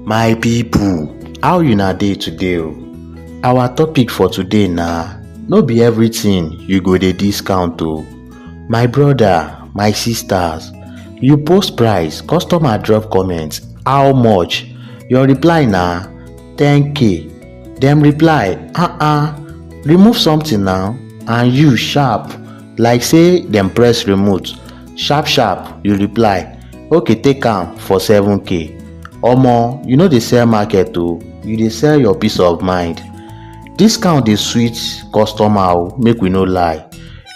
My people, how una dey today o? Our topic for today na no be everything you go dey discount o. My brother, my sisters, you post price, customer drop comment, how much? Your reply na 10k. Dem reply, ah ah, remove something now and you sharp like say dem press remote. sharp sharp you reply okay take am for 7k omo you no dey sell market o you dey sell your peace of mind discount dey sweet customer o make we no lie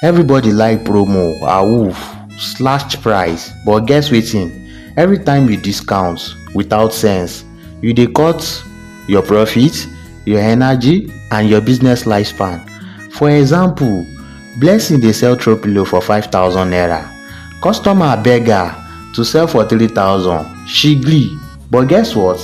everybody like promo awoof slash price but guess wetin every time you discount without sense you dey cut your profit your energy and your business lifespan for example Blessing dey sell throw pillow for five thousand naira, customer beg her to sell for three thousand, she gree but guess what,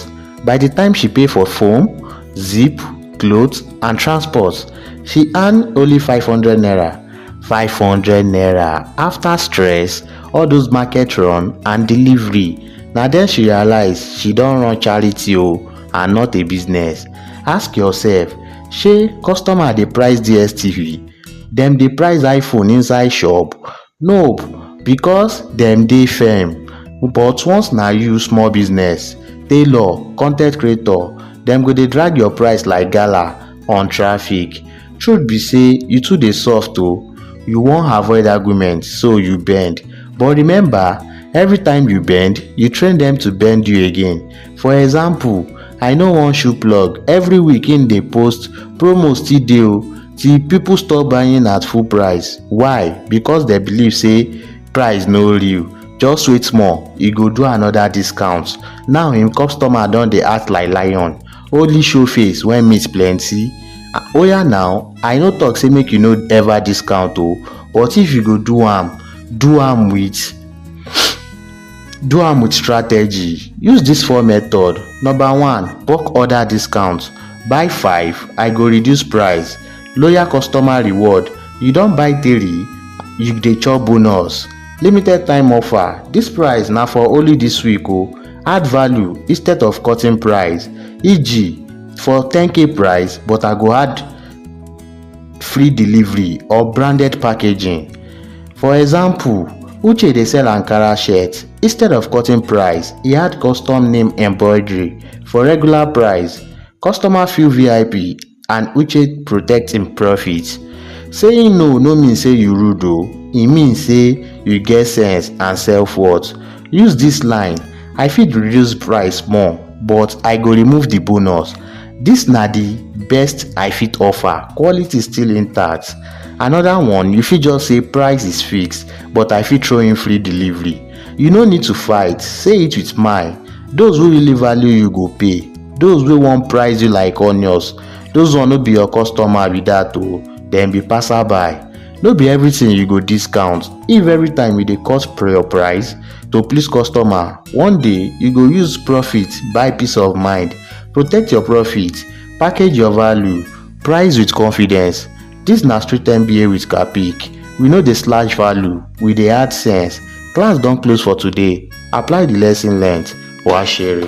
by the time she pay for foam, zip, cloth and transport, she earn only five hundred naira, five hundred naira after stress, all those market run and delivery, na then she realize she don run charity o and not a business, ask yourself shey customer dey price DSTV? dem dey price iphone inside shop? nope because dem dey firm but once na you small business tailor con ten t creator dem go dey drag your price like gala on traffic truth be say you too dey soft o you wan avoid argument so you bend but remember everytime you bend you train dem to bend you again For example, I know one shoe plug, every week him dey post promo still dey o till people stop buying at full price. Why? Because dem believe say price no real. Just wait small, e go do another discount. Now him customer don dey act like lion, only show face when meat plenty. Oya now, I no talk say make you no ever discount o, but if you go do am, do am with Do am with strategy. Use this four method. Number one, bulk order discount. Buy five, I go reduce price. Loyal customer reward. You don buy three, you dey chop bonus. Limited time offer. This price na for only this week o. Add value instead of cutting price. E.g. for 10k price but I go add free delivery or branded packaging. For example, Uche dey sell Ankara shirt, instead of cutting price, e add custom name embroidery for regular price, customer feel VIP and Uche protect im profit. Saying no no mean say you rude o, e mean say you get sense and self worth. Use dis line, I fit reduce price small but I go remove the bonus. This na the best I fit offer, quality still intact. Another one, you fit just say price is fixed, but I fit throw in free delivery. You no need to fight, say it with my. Those who really value you go pay. Those wey wan price you like onions, those one no be your customer be that o, oh. dem be passerby. No be everything you go discount. If every time you dey cut your price to please customer, one day you go use profit buy peace of mind. Protect your profit, package your value, price with confidence. Dis na street MBA with Kapic. We no dey slash value, we dey add sense. Class don close for today. Apply the lesson learnt. Wa shere.